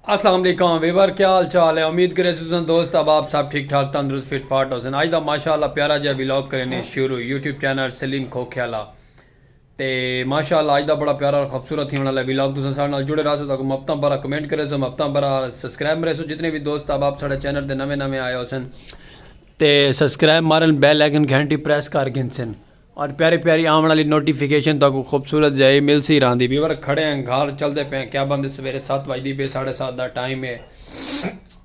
السلام علیکم ویور کیا حال چال ہے امید کرے سوزن دوست اب آپ سب ٹھیک ٹھاک تندرست فٹ فاٹ ہو سن آج دا ماشاءاللہ پیارا جا ویلوگ کرنے شروع یوٹیوب چینل سلیم کھوکھیالہ تے ماشاء اللہ اج دا بڑا پیارا اور خبصورت تھیونڑ آلا ہے ویلاگ تساں ساڈے نال جڑے رہسو تاکوں مبتاں بھرا کمنٹ کریسو مبتاں بھرا سبسکرائب مریسو جتنے وی دوست احباب ساڈے چینل تے نویں نویں آئے ہوسن تے سبسکرائب مارن بیل آئیکن گھنٹی پریس کر گھنسن اور پیاری پیاری آون آلی نوٹیفیکیشن تاکوں خوبصورت جائی ملسی راہندی ویور کھڑے ہیں گھر چلدے پئے ہیں کیبن دے سویرے ست وجدی پئے ساڈے ست دا ٹائم ہے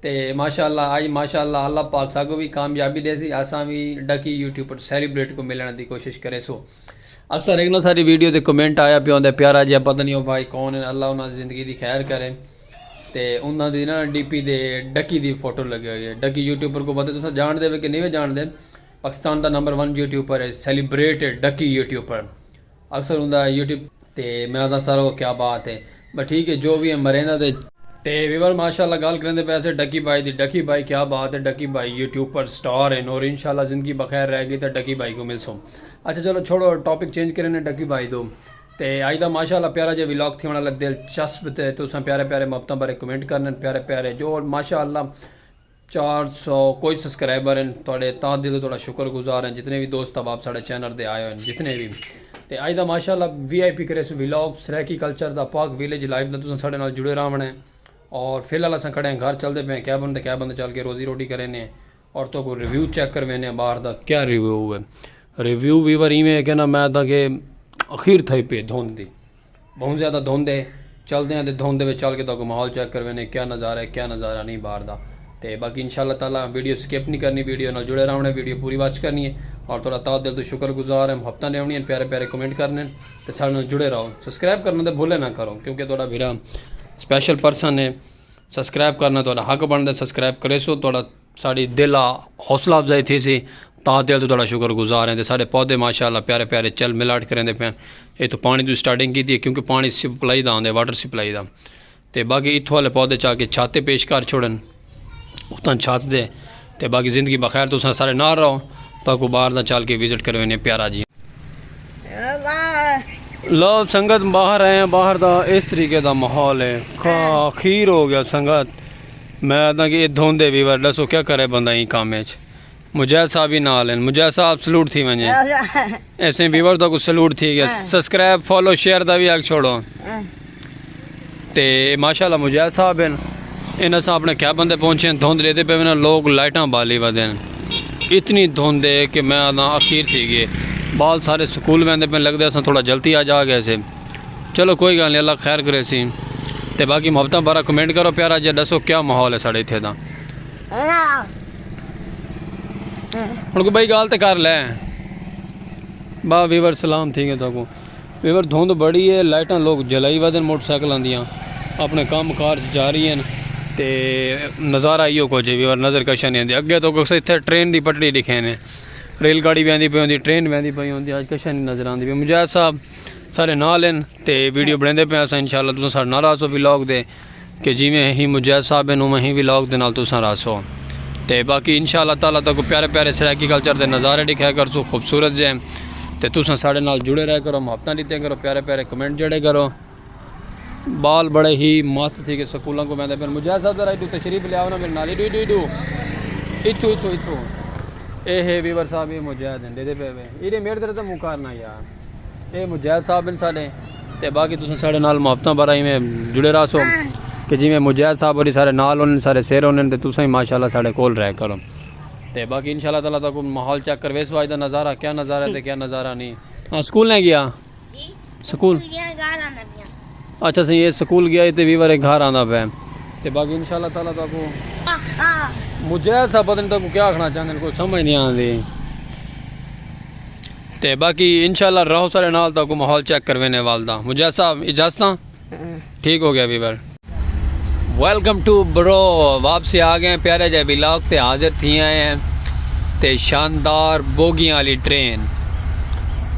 تے ماشاء اللہ آئی ماشاء اللہ اللہ پاک ساکوں وی کامیابی ڈیسی اساں وی ڈکی یوٹیوب پر سیلیبریٹ کوں ملنڑ دی کوشش کریسو اکثر ہک نو ساڈی ویڈیو تے کمنٹ آیا پیا ہوندا پیارا جیا پتہ نہیں او بھائی کون ہن اللہ انہاں دی زندگی دی خیر کرے تے انہاں دی نا ڈی پی دے ڈکی دی فوٹو لگی ہوئی ہے ڈکی یوٹیوب پر کو پتہ تساں جان دے وے کہ نہیں وے جان دے پاکستان دا نمبر 1 یوٹیوب پر ہے سیلیبریٹ ڈکی یوٹیوب پر اکثر ہوندا ہے یوٹیوب تے میں آنداں سر او کیا بات ہے بس ٹھیک ہے جو وی ہے مرینداں تے۔ تے ویور ماشاءاللہ گالھ کریندے پئے سے ڈکی بھائی دی ڈکی بھائی کیا بات ہے ڈکی بھائی یوٹیوب پر سٹار ہن اور انشاءاللہ زندگی بخیر رہ گی تے ڈکی بھائی کوں ملسوں اچھا چلو چھوڑو ٹاپک چینج کرینے ڈکی بھائی توں تے اج دا ماشاءاللہ پیارا جیا ولاگ تھیونڑ آلا دلچسپ تے تساں پیارے پیارے محبتاں بارے کمنٹ کرنے پیارے پیارے جو ماشاءاللہ چار سو کوئی سسکرائبر ہن تہاڈے تہہ دل توں تہاڈا شکر گزار ہیں جتنے وی دوست احباب ساڈے چینل تے آئے ہن جتنے وی تے اج دا ماشاءاللہ وی آئی پی کریسوں ولاگ سرائیکی کلچر دا پاک ویلیج لائف دا تساں ساڈے نال جڑے راہوݨ ہے اور فی الحال اساں کھڑے ہیں گھر چلدے پئے ہیں کیبن تے کیبن تے چل کے روزی روٹی کرینے ہیں اور تہاکوں ریویو چیک کروینے ہیں باہر دا کیا ریویو ہے ریویو ویور ایویں ہے کہ نا میں تہاکے اخیر تھئی پے دھن دی بہوں زیادہ دھند ہے چلدے آں تے دھند دے وچ چل کے تہاکوں ماحول چیک کروینے کیا نظارہ ہے کیا نظارہ نی باہر دا تے باقی ان شاءاللہ تعالی ویڈیو سکپ نی کرنی ویڈیو نال جڑے راونڑ ہے ویڈیو پوری واچ کرنی ہے اور تہاڈا تہہ دل توں شکر گزار ہیں محبتاں ڈیونڑیاں ہن پیارے پیارے کمنٹ کرنے ہن تے ساڈے نال جڑے راہو سبسکرائب کرنا تے بھولے نہ کرو کیونکہ تہاڈا بھرا سپیشل پرسن ہے سبسکرائب کرنا تہاڈا حق بندا ہے سبسکرائب کریسو تہاڈا ساڈی دل ا حوصلہ افزائی تھیسی تاں دل توں تہاڈا شکر گزار ہیں تے ساڈے پودے ماشاءاللہ پیارے پیارے چل ملاٹ کریندے پے ہن ایتھوں پانی دی سٹارٹنگ کیتی ہے کیونکہ پانی سپلائی دا آندے واٹر سپلائی دا تے باقی ایتھوں والے پودے چا کے چھت تے پیش کر چھوڑن اتاں چھت دے تے باقی زندگی بخیر تساں سارے نال رہو تاں کو باہر دا چل کے وزٹ کرے وینے پیارا جی لو سنگت باہر آئے ہیں باہر دا اس طریقے دا ماحول ہے خیر ہو گیا سنگت میں آدھاں کہ اے دھوندے وی ور ڈسو کیا کرے بندہ ایں کم اچ مجاہد صاحب وی نال ہن مجاہد صاحب سلوٹ تھی ونجے ایسے ویور تاکو سلوٹ تھی گیا سبسکرائب فالو شیئر دا وی حق چھوڑو تے ماشاءاللہ مجاہد صاحب ہن ان اساں اپنے کیا بندے پہنچے دھوند لیتے پہ وینا لوگ لائٹاں بالی ودن اتنی دھوند ہے کہ میں آدھاں اخیر تھی گئے بال سارے سکول ویندے پہ لگ دے اساں تھوڑا جلتی آ جا گئے سے چلو کوئی گال نہیں اللہ خیر کرے سی تے باقی محبتاں بارہ کمنٹ کرو پیارا جی دسو کیا ماحول ہے ساڑے اتھے دا ہن کو بھائی گال تے کر لے با ویور سلام تھی گئے تو کو ویور دھوند بڑی ہے لائٹاں لوگ جلائی ودن موٹر سائیکل آندیاں اپنے کام کار جا رہی ہیں تے نظارہ ایو کو جے ویور نظر کشا نہیں آندی اگے تو کو سے اتھے ٹرین دی پٹڑی دکھینے ریل گاڑی بھی آندی پہ ہوندی ٹرین بھی آندی پہ ہوندی آج کشا نہیں نظر آندی بھی مجاہد صاحب سارے نال ہیں تے ویڈیو بنے دے پہ آسا انشاءاللہ تسا سارے نال آسو ویلاگ دے کہ جی میں ہی مجید صاحب ہیں نو میں ہی ویلاگ دے نال تسا راسو تے باقی انشاءاللہ تعالی تک کو پیارے پیارے سرائیکی کلچر دے نظارے دکھایا کر سو خوبصورت جے تے تسا سارے نال جڑے رہے کرو محبتہ لیتے کرو پیارے پیارے کمنٹ جڑے کرو بال بڑے ہی مست تھی کہ سکولوں کو میں دے پہ مجید صاحب درائی دو تشریف لیا ہونا میرے نالی دو دو دو اتو اتو اتو اے ہے ویور صاحب یہ مجید ہیں دے دے پہ ایرے میرے درائی دے مکارنا یار اے مجاہد صاحب ہیں سارے تے باقی تساں سارے نال محبتاں بارا ایویں جڑے رہا سو کہ جویں مجاہد صاحب ہوری سارے نال ہونے سارے سیر ہونے تے تساں ہی ماشاءاللہ سارے کول رہ کرو تے باقی انشاءاللہ تعالی تاکو ماحول چیک کر ویس واج دا نظارہ کیا نظارہ ہے تے کیا نظارہ نہیں ہاں سکول نہیں گیا جی، سکول اچھا سی یہ سکول گیا تے وی وارے گھر آندا پے تے باقی انشاءاللہ تعالی تاکو مجاہد صاحب پتہ نہیں تاکو کیا آکھنا چاہندے کوئی سمجھ نہیں آندی تے باقی انشاءاللہ رہو سارے نال تاکو ماحول چیک کروینے والدہ مجاہد صاحب اجازتاں ٹھیک ہو گیا ویور ویلکم ٹو برو واپسی آ گئے پیارے جائے بلاک تے حاضر تھی آئے ہیں تے شاندار بوگیاں والی ٹرین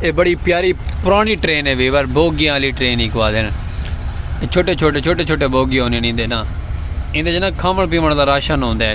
اے بڑی پیاری پرانی ٹرین ہے ویور بوگیاں والی ٹرین ہی کو آدھے چھوٹے چھوٹے چھوٹے چھوٹے بوگی ہونے نہیں دینا اندے جنا کھامن پیمن دا راشن ہوندے ہیں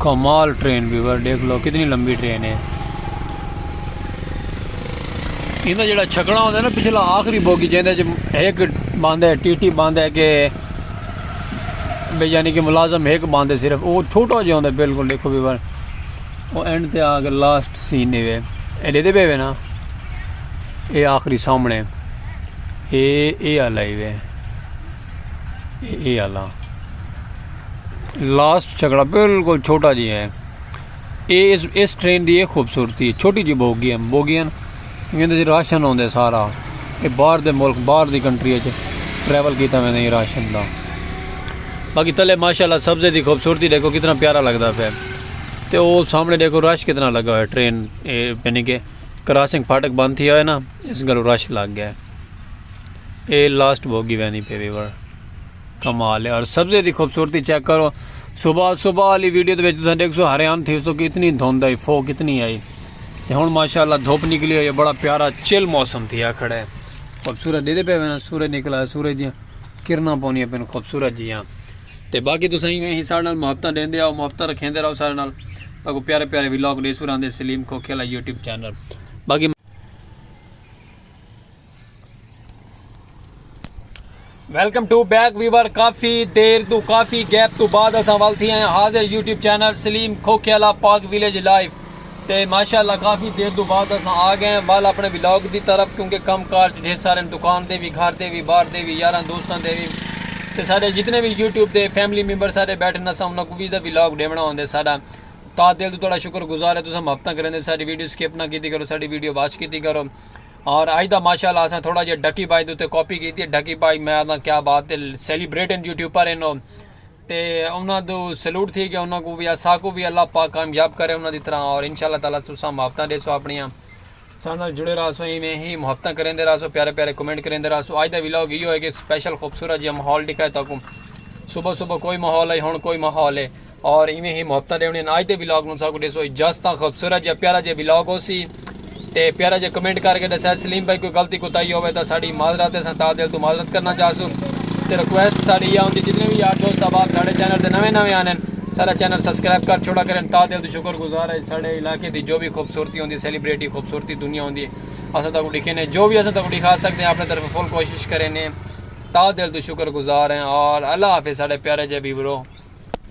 کمال ٹرین ویور دیکھ لو کتنی لمبی ٹرین ہے انہیں جڑا چھکڑا ہوندے نا پچھلا آخری بوگی جیندے جی ایک باندھے ہے ٹی ٹی باندھے ہے کہ بے یعنی کہ ملازم ایک باندھے صرف وہ چھوٹا جی ہوندے بالکل دیکھو بھی بار وہ اینڈ تے آگے لاسٹ سین نہیں ہوئے اے لے دے بے ہوئے نا اے آخری سامنے اے اے آلائی ہوئے اے آلا لاسٹ چھکڑا بالکل چھوٹا جی ہے اے اس اس ٹرین دی اے خوبصورتی ہے چھوٹی جی بوگی ہیں بوگی ہیں اندر جی راشن ہوندے سارا اے باہر دے ملک باہر دی کنٹری ہے ٹریول کیتا میں نہیں راشن دا باقی تلے ماشاءاللہ سبزے دی خوبصورتی دیکھو کتنا پیارا لگدا پہ تے او سامنے دیکھو رش کتنا لگا ہے ٹرین اے یعنی کہ کراسنگ پھاٹک بند تھی ہوئے نا اس گلو رش لگ گیا ہے اے لاسٹ بھوگی ویندی پی ویور کمال ہے اور سبزے دی خوبصورتی چیک کرو صبح صبح والی ویڈیو دے وچ تساں دیکھسو حیران تھیسو کہ اتنی دھند آئی فو کتنی آئی تے ہن ماشاءاللہ دھوپ نکلی ہوئی ہے بڑا پیارا چل موسم تھیا کھڑا ہے خوبصورت دیدے پے وینا سورج نکلا ہے سورج دیاں کرنا پونی پین خوبصورت جیاں تے باقی تساں ہی ہیں سارے نال محبتاں دیندے آؤ محبتاں رکھیندے رہو سارے نال تاکو پیارے پیارے ویلوگ دے سوراں دے سلیم کو کھیلا یوٹیوب چینل باقی ویلکم ٹو بیک ویور کافی دیر تو کافی گیپ تو بعد اساں وال تھی ہیں حاضر یوٹیوب چینل سلیم کھوکھے والا پاک ویلیج لائیو تے ماشاءاللہ کافی دیر تو بعد اساں آ گئے ہیں وال اپنے ولاگ دی طرف کیونکہ کم کار ڈھیر سارے دکان دے بھی گھر دے بھی باہر دے بھی یاراں دوستاں دے بھی تے سارے جتنے بھی یوٹیوب دے فیملی ممبر سارے بیٹھے نہ سامنا کو بھی دا ولاگ ڈیونا ہوندے سارا تا دل تو تھوڑا شکر گزار ہے تو سم ہفتہ کریں دے ساری ویڈیو سکپ نہ کیتی کرو ساری ویڈیو واچ کیتی کرو اور اج دا ماشاءاللہ اساں تھوڑا جیہا ڈھکی بھائی دے اتے کاپی کیتی ہے ڈھکی بھائی میں آکھداں کیا بات ہے سیلیبریٹنگ یوٹیوبر ہن او تے انہاں دو سلوٹ تھی گیا انہاں کو بھی اساکو بھی اللہ پاک کامیاب کرے انہاں دی طرح اور انشاءاللہ تعالی تساں محبتاں ڈیسو اپنیاں ساڈے نال جڑے رہسو ایویں ہی محبتاں کریندے رہسو پیارے پیارے کمنٹ کریندے رہسو اج دا ولاگ ایو ہے کہ سپیشل خوبصورت جیہا ماحول ڈکھائے تاکوں صبح صبح کوئی ماحول ہے ہن کوئی ماحول ہے اور ایویں ہی محبتاں ڈیونی ہیں آج دے ویلاگ نوں ساکو ڈیسو اجازتاں خوبصورت جا پیارا جا ویلاگ ہو سی تے پیارا جا کمنٹ کر کے دسیا سلیم بھائی کوئی غلطی کوتاہی ہوے تا ساڈی معذرت ہے سن تا دل تو معذرت کرنا چاہسو تے ریکویسٹ ساڈی یہ ہوندی جتنے بھی یار دوست احباب ساڈے چینل تے نویں نویں آنے سارا چینل سبسکرائب کر چھوڑا کرن تا دل تو شکر گزار ہے ساڈے علاقے دی جو بھی خوبصورتی ہوندی سیلیبریٹی خوبصورتی دنیا ہوندی اساں تاکو ڈکھے نے جو بھی اساں تاکو ڈکھا سکتے ہیں اپنے طرف فل کوشش کریں نے تا دل تو شکر گزار ہیں اور اللہ حافظ ساڈے پیارے جے بیورو